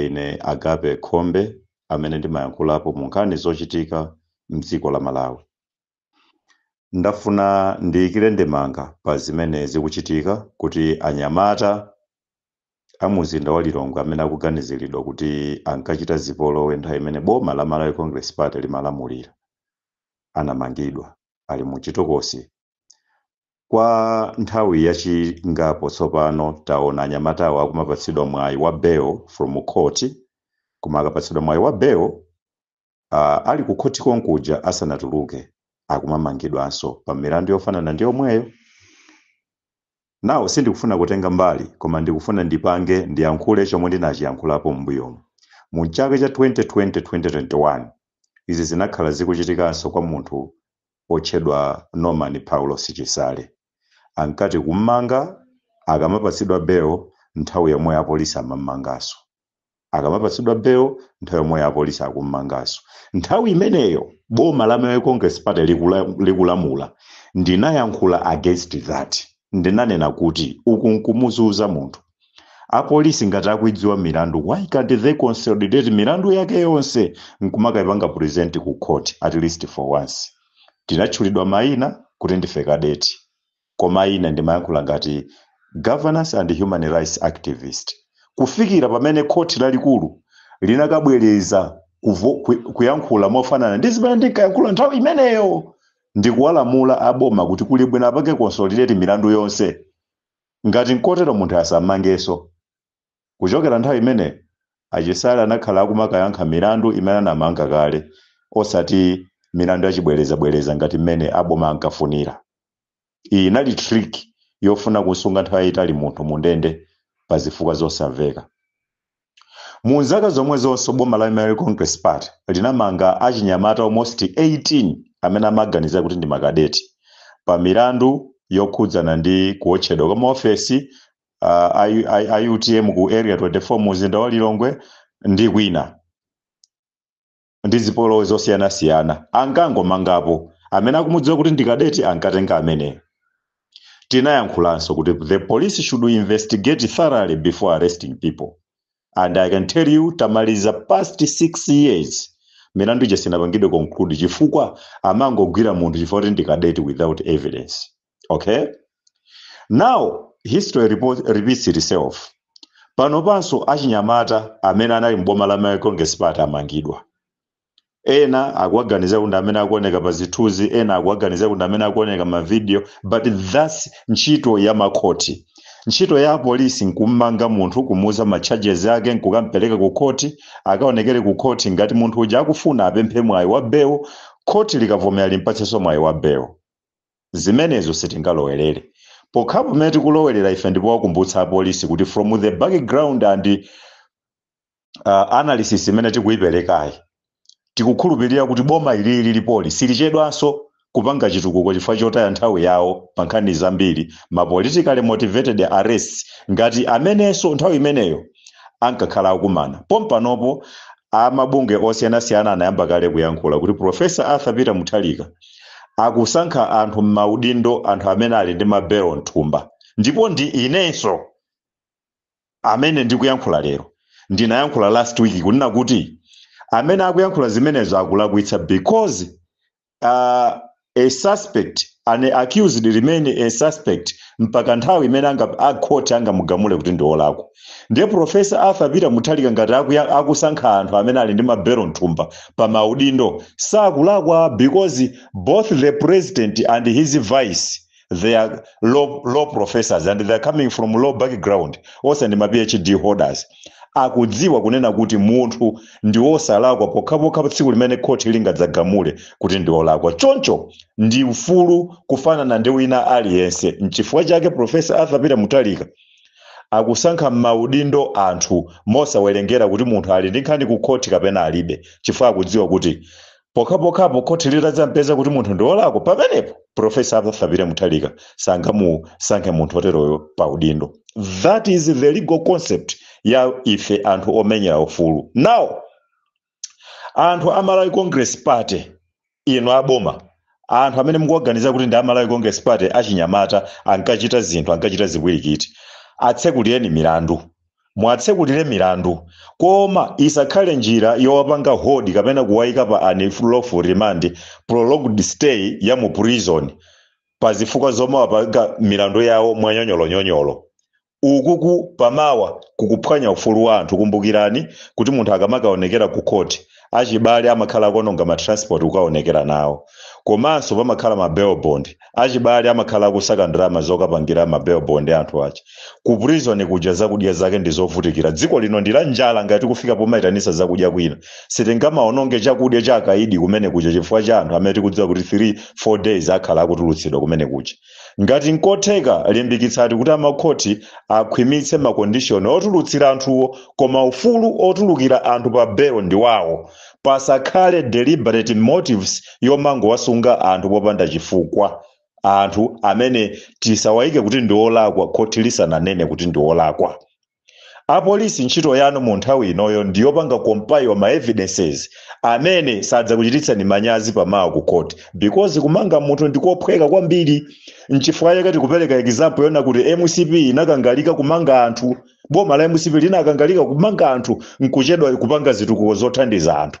Ine Agape Khombe amene ndimayankhulapo mu nkhani zochitika m'dziko la Malawi. Ndafuna ndiyikire ndemanga pa zimene zikuchitika kuti anyamata a mumzinda wa Lilongwe amene akuganiziridwa kuti ankachita zipolowe nthawi imene boma la Malawi Congress Party limalamulira, anamangidwa ali mu chitokosi. Kwa nthawi yachingapo tsopano taona anyamatawa akumapatsidwa mwayi wa bail from court koma akapatsidwa mwayi wa bail uh, ali ku khothi konkuja asanatuluke akumamangidwanso pa milandu yofanana ndi yomweyo. Nawo sindikufuna kutenga mbali koma ndikufuna ndipange ndiyankhule chomwe ndinachiyankhulapo m'mbuyomu. Mu mchaka cha 2020 2021 izi zinakhala zikuchitikanso kwa munthu wotchedwa Norman Paulos Chisale ankati kum'manga akamapatsidwa bail nthawi yomweyo apolisi amam'manganso, akamapatsidwa bail nthawi yomweyo apolisi akum'manganso. Nthawi imeneyo boma la Malawi Congress Party likula, likulamula ndinayankhula against that, ndinanena kuti uku nkumuzuza munthu. apolisi ngati akuidziwa milandu why can't they consolidate milandu yake yonse nkumakaipanga present ku court at least for once tinatchulidwa maina kuti ndife kadeti koma ine ndimayankhula ngati governance and human rights activist kufikira pamene khoti lalikulu linakabwereza kuvo- ku- kuyankhula mofanana ndi zimene ndinkayankhula nthawi imeneyo ndikuwalamula aboma kuti kuli bwino apange consolidate milandu yonse Ngati nkotero munthu asammangenso. Kuchokera nthawi imeneyo, a Chisale anakhala akumakayankha milandu imene anamanga kale osati milandu ya chibwerezabwereza ngati mmene a boma ankafunira. Iyi inali trick yofuna kumsunga nthawi yaitali munthu mu ndende pa zifukwa zosamveka. Mu zaka zomwezonso boma la Malawi Congress Party linamanga achinyamata almost 18 amene amaganizira kuti ndi makadeti pa milandu yokhudzana ndi kuotchedwa kwa maofesi uh, a, a, a UTM ku Area 24 mu mzinda wa Lilongwe ndi kwina ndi zipolowe zosiyanasiyana ankangomangapo amene akumudziwa kuti ndi kadeti ankatenga ameneyo tinayankhulanso kuti the police should investigate thoroughly before arresting people and i can tell you tamaliza past six years milandu ija sinapangidwe conclude chifukwa amangogwira munthu chifukwa kuti ndi kadeti without evidence okay now history repeats itself pano panso achinyamata amene anali mboma la malawi congress party amangidwa ena akuwaganiza kuti amene akuoneka pa zithunzi ena akuwaganiza kuti amene akuoneka mavidiyo but thats ntchito ya makhoti ntchito ya apolisi nkummanga munthu kumuuza ma charges ake nkukampereka ku khoti akaonekere ku khoti ngati munthu uja akufuna apemphe mwayi wa belo khoti likavomera limpatsenso mwayi wa belo Zimenezo sitingalowerere. Pokhapo pamene tikulowerera ife ndi powakumbutsa apolisi kuti from the background and uh, analysis imene tikuyiperekayi tikukhulupirira kuti boma ili lilipoli silichedwanso kupanga chitukuko chifukwa chotaya nthawi yawo pa nkhani zambiri ma politically motivated arrests ngati amenenso nthawi imeneyo ankakhala akukumana pompanopo a mabungwe osiyanasiyana anayamba kale kuyankhula kuti Professor Arthur Peter Mutharika akusankha anthu m'maudindo anthu amene ali ndi mabelo mthumba ndipo ndi inenso amene ndikuyankhula lero ndinayankhula last week kunena kuti amene akuyankhula zimenezo akulakwitsa because uh, a suspect an accused remain a suspect mpaka nthawi imene akhoti angamugamule kuti ndi olakwa ndiye profesa arthur peter mutharika ngati akusankha anthu amene ali ndi mabelo mthumba pa maudindo sakulakwa because both the president and his vice they are law professors and they are coming from law background onse ndi ma phd holders akudziwa kunena kuti munthu ndi wosalakwa pokhapokha tsiku limene khoti lingadzagamule kuti ndi wolakwa choncho ndi mfulu kufanana ndi wina aliyense mchifukwa chake profesa arthur peter mutharika akusankha m'maudindo anthu mosawerengera kuti munthu ali ndi nkhani ku khoti kapena alibe chifukwa akudziwa kuti pokhapokhapo khoti litadzampeza kuti munthu ndi wolakwa pamenepo profesa arthur peter mutharika sangamusankhe munthu oteroyo pa udindo that is the legal concept ya ife anthu omenyera ufulu now anthu a malawi congress party inu aboma anthu amene mukuwaganiza kuti ndi a malawi congress party achinyamata ankachita zinthu ankachita zikwirikiti atsekulireni milandu muwatsekulire milandu koma isakhale njira yowapanga hold kapena kuwaika pa unlawful remand, prolonged stay, ya mu prison pa zifukwa zomawapanga milandu yawo mwa nyonyolonyonyolo. Ukuku pamawa kukuphwanya ufulu wa anthu. Kumbukirani kuti munthu akamakawonekera ku court achibale amakhala akuononga ma transport kukaonekera nawo komanso pamakhala ma bail bond achibale amakhala akusaka ndalama zokapangira ma bail bond a anthu achi ku prison kuja zakudya zake ndi zovutikira dziko lino ndi la njala ngati kufika pomaitanisa zakudya kwina sitingamaononge chakudya cha akaidi kumene kuja chifukwa cha anthu amene tikudziwa kuti 3 4 days akhala akutulutsidwa kumene kuja Ngati nkotheka limbikitsani kuti amakhoti akhwimitse ma condition otulutsira anthuwo koma ufulu otulukira anthu pa bail ndiwawo, pasakhale deliberate motives yomangowasunga anthu popanda chifukwa. Anthu amene tisawaike kuti ndiolakwa khoti lisananene kuti ndiolakwa. Apolisi ntchito yanu mu nthawi inoyo ndi yopanga compile ma evidences amene sadzakuchititsani manyazi pa mawa ku court because kumanga munthu ndi kophweka kwambiri. Nchifukwa chake tikupereka example yoona kuti mcp inakangalika kumanga anthu, boma la mcp linakangalika kumanga anthu nkuchedwa kupanga zitukuko zothandiza anthu.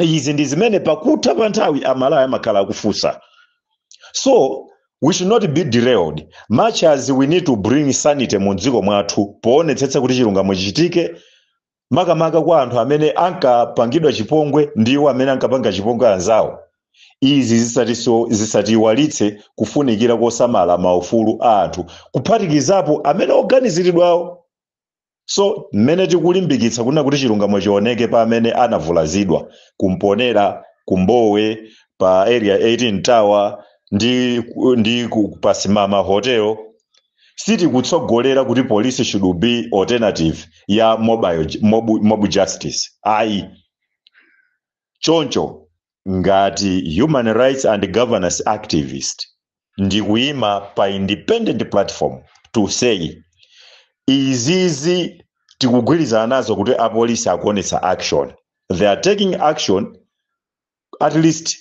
izi ndi zimene pakutha pa nthawi amalawi amakhala akufunsa so we should not be derailed much as we need to bring sanity mu dziko mwathu poonetsetsa kuti chilungamo chichitike makamaka kwa anthu amene ankapangidwa chipongwe ndi iwo amene ankapanga chipongwe anzawo izi zisatiiwalitse kufunikira kosamala maufulu a anthu kuphatikizapo amene oganiziridwawo So, mmene tikulimbikitsa kunena kuti chilungamo chioneke pa amene anavulazidwa ku Mponela, kwa Mbowe, pa area 18 Tower ndi, ndi ku- pa Simama Hotel sitikutsogolera kuti police should be alternative ya mobile, ju- mob, mob justice ayi Choncho ngati human rights and governance activist ndikuima pa independent platform to say izizi tikugwirizana nazo kuti apolisi akuonetsa action, they are taking action at least.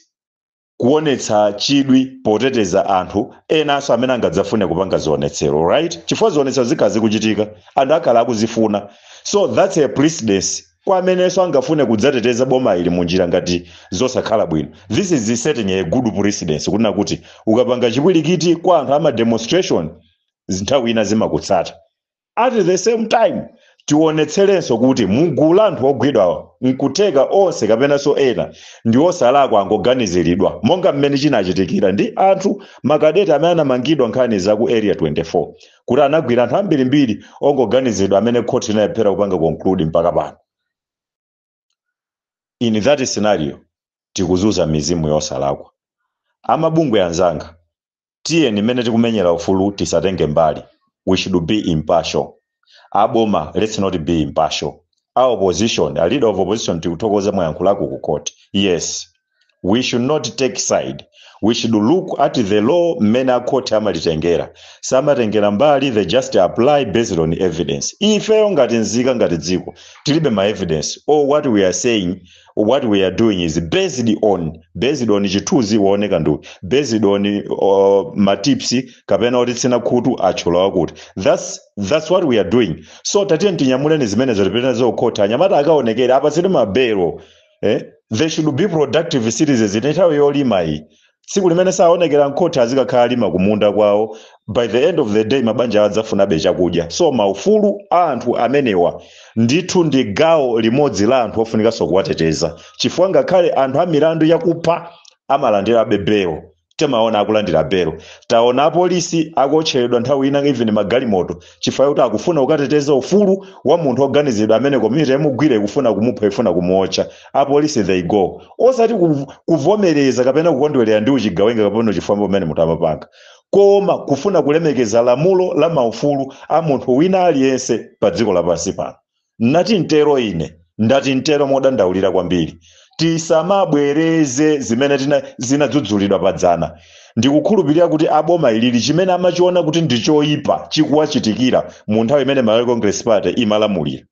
kuonetsa chidwi poteteza anthu enanso amene angadzafune kupanga zionetsero right chifukwa zionetsero zikhala zikuchitika anthu akhala akuzifuna so that's a precedence kwa amenenso angafune kudzateteza boma ili munjira ngati zosakhala bwino this is setting a good precedence kunena kuti ukapanga chipwirikiti kwa anthu ama demonstration nthawi ina zimakutsata At the same time, tionetserenso kuti mugulu la anthu ogwidwa nkutheka onse kapenanso ena ndiosalakwa angoganiziridwa monga mmene chinachitikira ndi anthu ma cadet amene anamangidwa nkhani za ku area 24 kuti anagwira anthu ambirimbiri ongoganiziridwa amene khoti inalephera kupanga conclude mpaka pano. in that scenario tikuzunza mizimu yosalakwa amabungwe anzanga tiyeni mmene tikumenyera ufulu tisatenge mbali we should be impartial aboma let's not be impartial a opposition a leader of opposition tikuthokoza mwayankhulako ku court yes we should not take side we should look at the law mmene a khoti amalitengera samatengera mbali they just apply based on evidence ifeyo ngati nzika ngati dziko tilibe ma evidence or what we are saying what we are doing is based on based on chithunzi waoneka ndi uti, based on uh, matipsi kapena otitsina khutu atchula wakuti that's, that's what we are doing so tatiyeni tinyamuleni zimenezo tipite nazo kukhoti anyamata akaonekere apatsidwe mabelo eh? they should be productive citizens ndi nthawi yolima iyi tsiku limene saonekera mkhoti azikakhala akulima kumunda kwawo by the end of the day mabanja awo adzafunabe chakudya so maufulu a anthu amenewa ndithu ndi gawo limodzi la anthu ofunikanso kuwateteza chifukwa ngakhale anthu a milandu yakupha amalandirabe belo timaona akulandira belo taona apolisi akuotcheredwa nthawi ina even magalimoto chifukwa kuti akufuna kukateteza ufulu wa munthu oganizidwa amene community yamugwira ikufuna kumupha ifuna kumuotcha apolisi they go osati kuv- kuvomereza kapena kukondwerera ndi uchigawenga kapena uchifwamba umene munthu amapanga, koma kufuna kulemekeza lamulo la maufulu a munthu wina aliyense pa dziko lapansi pano Ndati ntero ine. Ndati ntero modandaulira kwambiri. Tisamabwereze zimene tina, zinadzudzulidwa padzana. Ndikukhulupirira kuti a boma ili chimene amachiona kuti ndi choipa chikuwachitikira mu nthawi imene Malawi Congress Party imalamulira.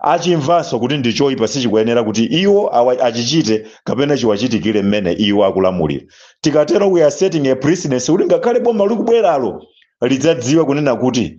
Achimvanso kuti ndi choipa sichikuyenera kuti iwo awa, achichite kapena chiwachitikire mmene iwo akulamulira. Tikatero we are setting a precedence kuti ngakhale boma likubweralo lidzadziwe kunena kuti